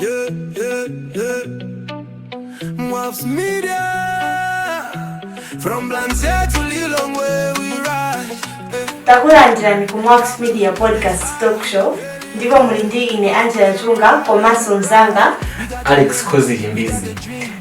Yeah, yeah, yeah. Maps Media. From Blantyre to Lilongwe, we ride. Eh. takulandirani ku maps media podcast talk show ndipo muli ndi ine angela chunga komanso mzanga alex khozi chimbizi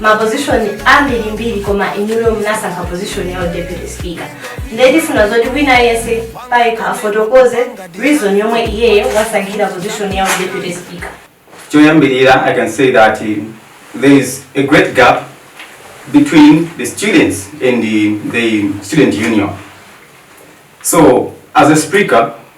mapozishoni ambirimbiri koma inuyo munasankha pozishoni ya deputy speaker ndiye tifuna zoti wina aliyense payekha afotokoze reason yomwe iyeyo wasankhira pozishoni ya deputy speaker choyambirira i can say that uh, there is a great gap between the students and the, the student union so as a speaker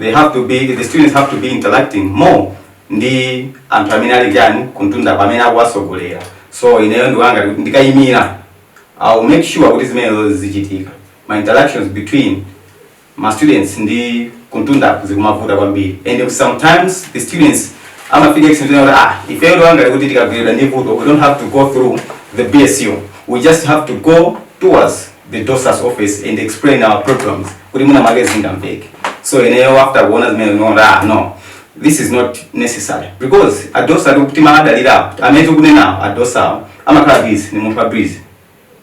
they have to be the students have to be interacting more ndi anthu amene ali chani kumtunda pamene akuwasogolera so ineyo ndawona ndikayimira i'll make sure kuti zimenezo zichitika ma interactions between ma students ndi kumtunda zikumavuta kwambiri and sometimes the students amafika extent kuti ah ifeyo ndawona kuti tikagwidwa ndi vuto we don't have to go through the bsu we just have to go towards the doctor's office and explain our problems kuti mwina mwake zingamveke so ineyo after kuona zimene ndikuona kuti ah no this is not necessary because adosa tikuwadalira amene tikunenawo adosa amakhala busy ndi munthu wa busy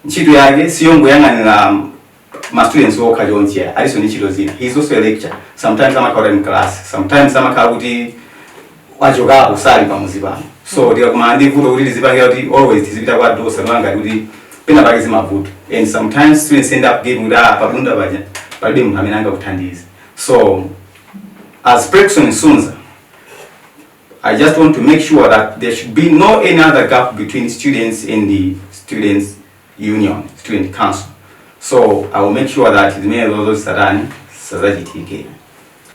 ntchito yake siyongoyang'anira ma students okha chonchi alinso ndi ntchito zina he is also a lecturer sometimes amakhala kuti ali mu class sometimes amakhala kuti wachokapo sali pasukulu pano so tikakumana ndi vuto kuti tizipangira kuti always tizipita kwa dosa ndaona kuti pena pake zimavuta and sometimes students end up giving that pa bunda paja palibe munthu amene angakuthandize so as Prexon Sunza I just want to make sure that there should be no any other gap between students and the students union student council so I will make sure that zimene zozo satani sazachitike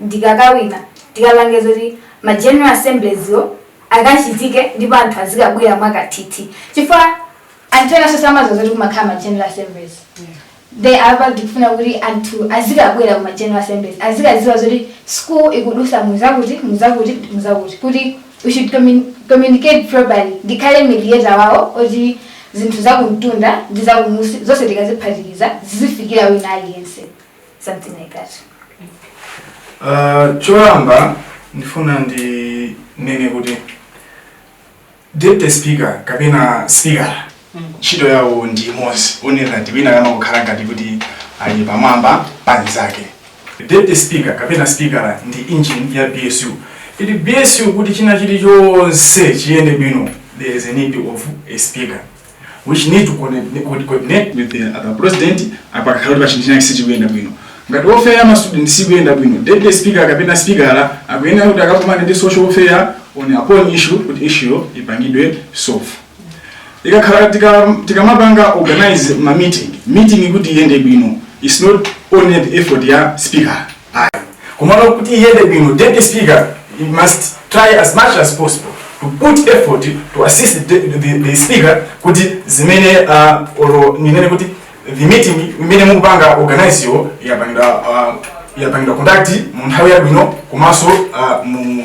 ndikakawina tikapange zoti ma general assemblies-wo akachitike ndipo anthu azikabwera mwakathithi chifukwa anthu enaso samaziwa zoti kumakhala ma general assemblies nde apa ndikufuna kuti anthu azikabwera kuma general assemblies azikaziwa zoti school ikudusa muzakuti muzakuti muzakuti kuti we should commun- communicate properly ndikhale mediator wawo oti zinthu zakumtunda ndi zakumusi zonse tikaziphatikiza zizifikira wina aliyense something like that Uh, choyamba ndifuna ndinene kuti deputy speaker kapena speaker ntchito yawo ndi imodzi onena ngati wina kama kukhala ngati kuti ali pamwamba pa mnzake deputy speaker kapena speaker ndi engine ya bsu mu bsu kuti china chilichonse chiyende bwino there is a need of a speaker which need to coordinate, could coordinate with the other president apakakhala kuti pachinthu chinachake sichikuyenda bwino ngati welfare ya mastudent sikuyenda bwino deputy speaker kapena speaker akuyenera kuti akakumane ndi social welfare on upon issue kuti issue ipangidwe solve ikakhala tika- tikamapanga organize ma meeting meeting kuti iyende bwino its not only the effort ya speaker komano kuti iyende bwino deputy speaker he must try as much as possible to put effort to assist the, the, the speaker kuti zimene uh, olo ninene kuti the meeting imene mukupanga organize yo yapangidwa uh, yapangidwa conduct mu nthawi yabwino komanso uh, mu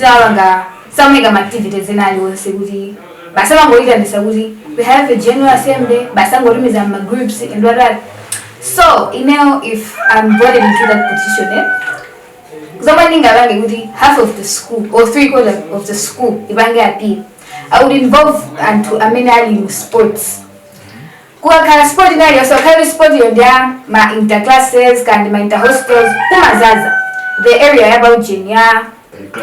Sawapanga samaika ma activities ena aliwonse kuti basi amangoitanisa kuti we have a general assembly basi angotumiza ma groups and what that so ineyo if I'm voted into that position eh, zomwe ndingapange kuti half of the school or three quarter of the school ipange appeal I would involve anthu amene ali mu sports Kukakhala sport ina iliyonse ngakhale kuti sport yo ndiya ma inter classes kaya ndi ma inter hostels kumazaza the area ya pa ujeni ya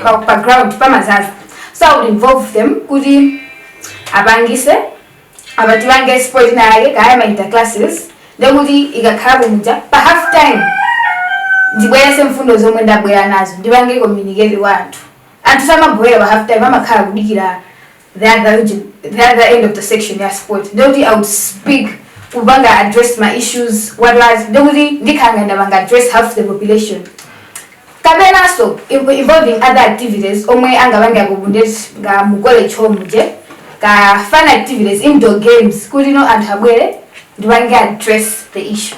pa, pa ground pamazaza so i would involve them kuti apangise apa tipange sport ina yake kaya ma inter classes ndekuti ikakhala kumuja pa half time ndibweretse mfundo zomwe ndabwera nazo ndipange communicate kwa anthu anthu samabwera pa half time amakhala kudikira the other region, the other end of the section ya sport ndikuti i would speak kupanga address my issues what was ndikuti ndikhala ndapanga address half the population kapenanso in- involving other activities omwe angapange akubundeti ngati mu college home je ka fun activities indoor games kuti no anthu abwere ndipange address the issue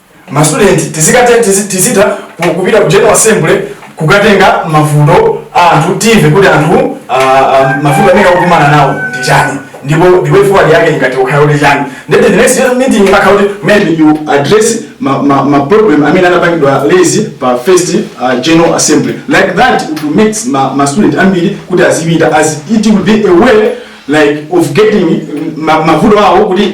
ma student tizikhala tizi- tizita ku- kupita ku general assembly kukatenga mavuto a anthu timve kuti anthu ah, ah, mavuto amene akukumana nawo ndi chani ndipo the way forward yake ingathe kukhala kuti chani ndete the next year meeting imakhala kuti maybe you address ma, ma, ma problem amene anapangidwa raise pa first uh, general assembly like that it will make ma, ma student ambiri kuti azipita as it will be a way like of getting ma- mavuto awo kuti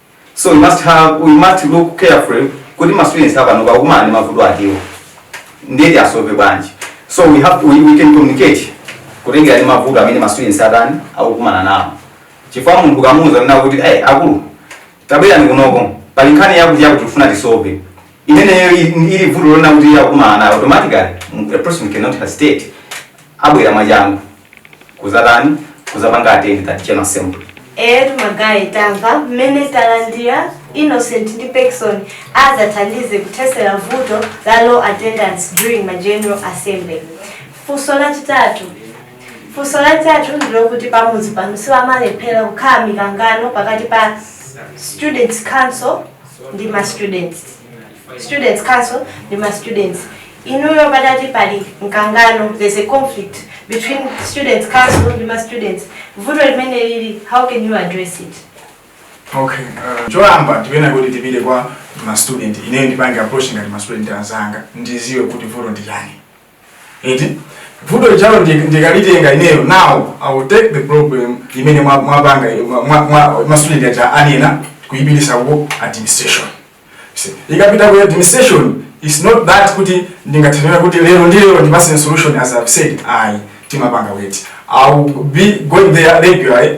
so you must have you must look carefully kuti ma students apanopa akukumana ndi mavuto atiwo nde tiwasove bwanji so we have we, we can communicate kutengera ndi mavuto amene ma students atani akukumana nawo chifukwa munthu ukamuuza zina kuti eh akulu tabwerani kunoko pali nkhani yakuti yakuti tifuna tisove imeneyo i- ili vuto loona kuti iye akumana nalo automatically mm, a person cannot hesitate abwera mwachangu kuzatani kuzapanga attend that general assembly eti magaye tamva mmene talandira innocent ndi pekson adzathandize kuthesera vuto la low attendance during ma general assembly funso lachitatu funso lachitatu ndilokuti pamudzi pano siwamalephera kukhala mikangano pakati pa students council ndi ma students students council ndi ma students inuyo patati pali mkangano there's a conflict between students council ndi ma students vuto limene lili how can you address it okay uh, choyamba tinena kuti tipite kwa ma student ineyo ndipange approach ngati ma student anzanga ndiziwe kuti vuto ndi chani eti vuto lijalo ndi- ndikalitenga ineyo now i will take the problem imene mwa- mwapanga mwa- mwa- mwa- ma student aja anena kuyipitisa ku administration See, ikapita ku administration is not that kuti ndingathekere kuti lero ndi lero ndipase solution as i've said ayi timapanga wait i will be going there regularly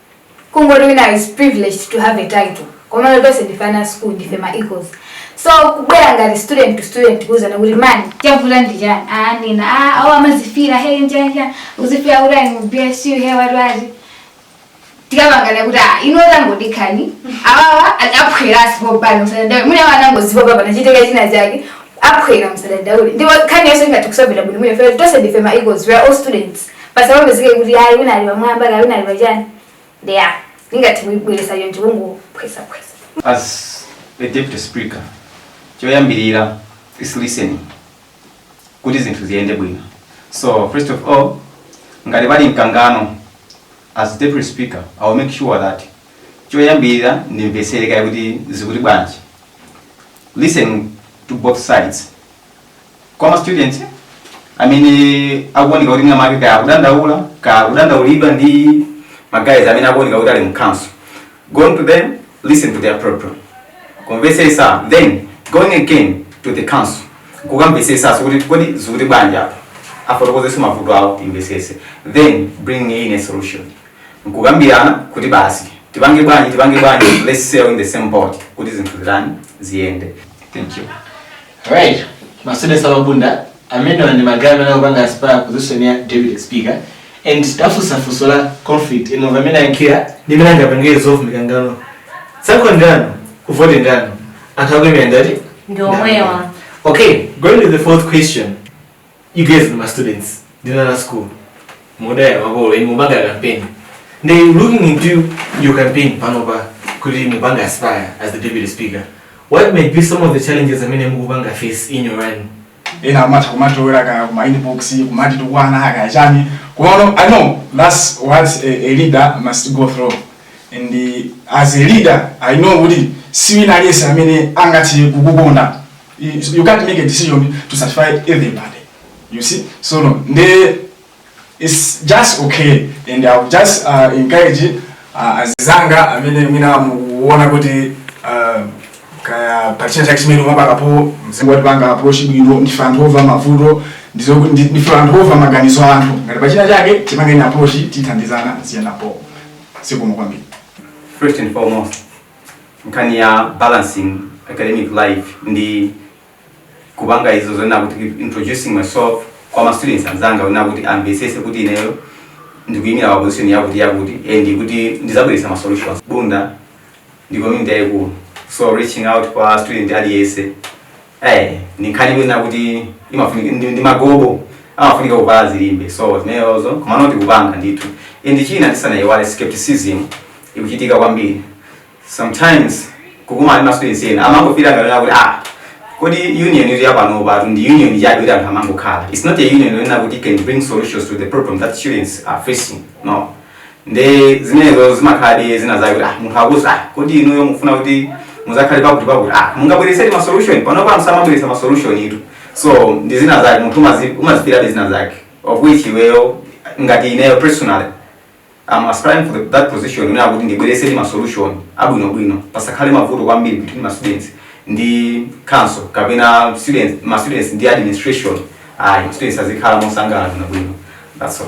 kungoti wina is privileged to have a title komano tonse ndife ana a school ndife ma equals so kubwera ngati student to student kuuzana kuti mani chavuta ndi chani anena "Ah, awo amazifira hey njanjani uzifira kuti ali mu bsu hey wati wati tikapangana kuti ah, ino tangodikani awawa aphwera sipopano msadadaule mune awa anangozipopa pangochitika china chake aphwera msadadaule ndipo nkhani yonse ingathe kusova bwino mwine fere tonse ndife ma equals we are all students pasamapezeke kuti ayi wina ali pamwamba kaya wina ali pachani ndiye ndingathe kuibweresa choncho kungophwesaphwesa As a deputy speaker, choyambirira is listening kuti zinthu ziyende bwino. So first of all, ngati pali mkangano as deputy speaker, I will make sure that choyambirira ndimvetsere kaye kuti zikuti bwanji. Listen to both sides kwa ma students amene akuoneka kuti mwina mwake kaya akudandaula kaya akudandaulidwa ndi magaye amene akuoneka kuti ali mu council going to them listen to their problem kumvesesa then going again to the council kukamvesesaso kuti kodi zikuti bwanji apa afotokozeso mavuto awo ndimvesese then bring in a solution nkukambirana kuti basi tipange bwanji tipange bwanji let's sail in the same boat kuti zinthu zitani ziyende thank you Alright, masede sababunda amene ndi magaye amene akupanga aspire position ya deputy speaker and tafunsa funso la conflict ino mwamva mmene ayankhira ndi mmene angapangire solve mikangano sakho ndano kuvote ndano anthu akuimira ndati Ndi omwewa. okay going to the fourth question you guys ndi ma students ndinu ana a school mudaya makolo inu mupanga campaign nde looking into your campaign panopa kuti mukupanga aspire as the deputy speaker what might be some of the challenges amene mukupanga face in your run ena amatha kumatilowera kaya kuma inbox kumatitukwana kaya chani komano i know that's what a, a leader must go through and uh, as a leader i know kuti siwina aliyense amene angathe kukukonda you can't make a decision to satisfy everybody you see so no nde it's just okay and i would just uh, encourage uh, azizanga amene mwina mukuona kuti uh, kaya pachina chake chimene umapakapo muzitipanga approach bwino ndife anthu omva mavuto ndizo ndi- ndife anthu omva maganizo a anthu ngati pachina chake tipangeni approach tithandizana ziyenda bho zikomo kwambiri First and foremost, nkhani ya balancing academic life ndi kupanga izo zonena kuti introducing myself kwa ma students anzanga kunena kuti amvesese kuti ineyo ndikuyimira pa position yakuti yakuti and kuti ndizabweretsa ma solutions bunda ndi community yayikulu so reaching out kwa student aliyense eh ni nkhani imene akuti imafunika ndi, ndi magobo amafunika kuvala zilimbe so zimenezo komano tikupanga ndithu and china tisanayiwale skepticism ikuchitika kwambiri sometimes kukumana ndi mastudents ena amangofila ngati kuti ah kodi union iri yapanopa atu ndi union yake kuti anthu amangokhala it's not a union yonena kuti can bring solutions to the problem that students are facing no nde zimenezo zimakhaladi zina zake kuti ah, munthu akuuza ah, kodi inuyo mukufuna kuti muzakhale pakuti pakuti ah, mungabweresedi ma solution panopa samabweresa ma solution itu so ndi zina zake munthu umazi- umazipiriradi zina zake of which iweyo ngati ineyo personally I'm aspiring for the, that position imene akuti ndibweresedi ma solution abwinobwino pasakhale mavuto kwambiri between ma students ndi council kapena students ma students ndi administration ayi ma students azikhala mosangalala bwinobwino that's all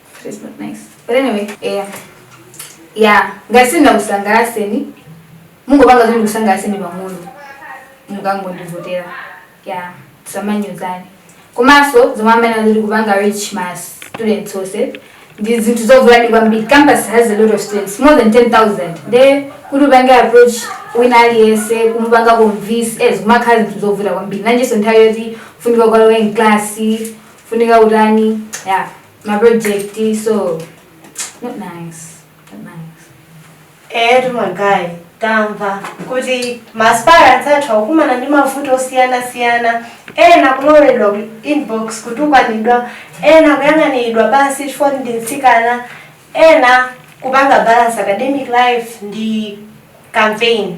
It's not nice. But anyway, yeah. Yeah, ngati sindinakusangalaseni mungopanga zoti ndikusangalaseni pang'ono mukangondivotera yeah samanyozani komanso zomwe anena zoti kupanga reach ma students onse ndi zinthu zovutadi kwambiri campus has a lot of students more than 10000 nde kuti upange approach wina aliyense kumupanga convince eh zimakhala zinthu zovuta kwambiri nanjinso nthawi yoti funika ukalowe mklasi funika utani yeah mapurojekiti so not nice not nice eetu magaye tamva kuti maaspirants athu akukumana ndi mavuto osiyanasiyana ena kuloweredwa ku inbox kutukwanidwa ena kuyang'aniridwa pansi chifukwa ndi mtsikana ena kupanga balance academic life ndi campaign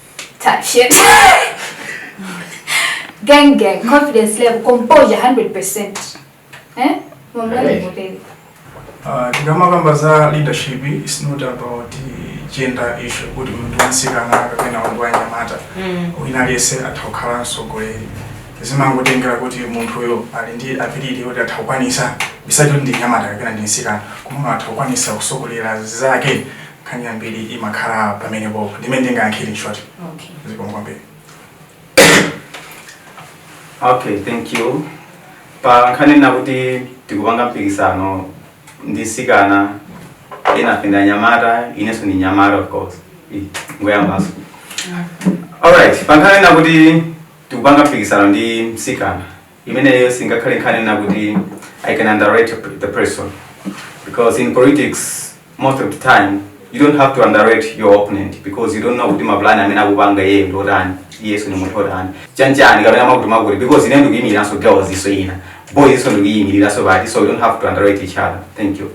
type shit. gang gang, confidence level, composure 100%. Eh? Hey. Uh, tikamakamba za leadership is not about gender issue kuti munthu wansikana kapena munthu wanyamata mm. wina aliyense atha kukhala mtsogoleri zimangotengera kuti munthuyo ali ndi ability yoti atha kukwanisa osati kuti ndi nyamata kapena ndi nsikana koma atha kukwanisa kusogolera zake nkhani yambiri imakhala pamene popo ndi mmene ndingayankhire in short okay zikomo kwambiri okay thank you pa nkhani yonena kuti tikupanga mpikisano ndi nsikana enafe ndi anyamata inenso ndi nyamata of course Ih, ndiyambenso alright pa nkhani yonena kuti tikupanga mpikisano ndi msikana imeneyo singakhale nkhani yonena kuti i can underrate the person because in politics most of the time you don't have to underrate your opponent because you don't know kuti mapulani amene akupanga iye ndi otani iyeso ni munthu otani chanchani kapena chakuti chakuti because ine ndikuyimiriranso girls inanso boysnso ndikuyimiriranso pati so you don't have to underrate each other thank you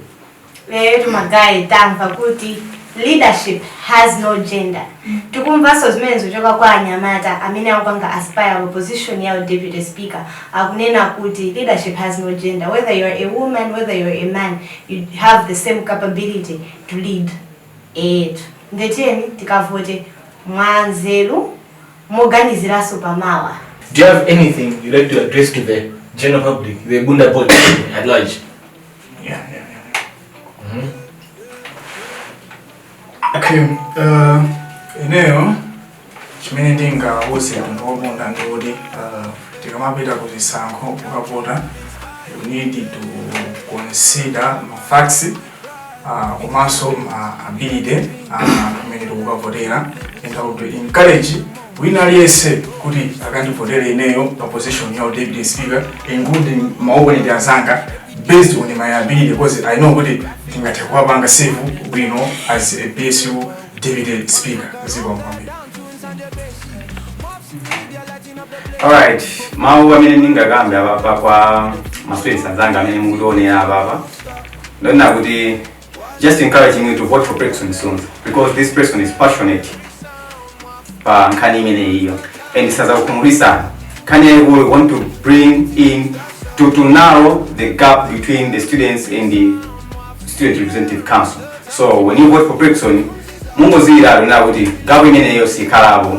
eyetu magaye tamva kuti leadership has no gender tikumvanso zimene zikuchoka kwa anyamata amene akupanga aspire pa position ya deputy speaker akunena kuti leadership has no gender whether you are a woman whether you are a man you have the same capability to lead eyetu nde tiyeni tikavote mwanzeru moganiziranso pamawa Do you have anything you'd like to address to the general public, the Bunda Board at large? Okay, uh, ineyo chimene ndingawuze anthu aku Bunda ndi kuti uh, tikamapita ku zisankho kukavota you need to consider mafacts uh, komanso ma ability a amene tikukavotera and I would encourage wina aliyense kuti akandivotere ineyo pa position ya deputy speaker including maoponenti azanga based on my ability because I know kuti ndingathe kuwapanga serve bwino as a BSU deputy speaker zikomo kwambiri alright mawu amene ndingakambe apapa kwa maswesa anzanga amene mukutionera apapa ndonena kuti just encouraging you to vote for Pexon soon because this person is passionate pa nkhani imeneyiyo and sazakukhumudwisa nkhani yayikulu want to bring in to, to narrow the gap between the students and the student representative council so when you vote for Pexon mungoziyiratu nakuti gap imeneyo sikhalapo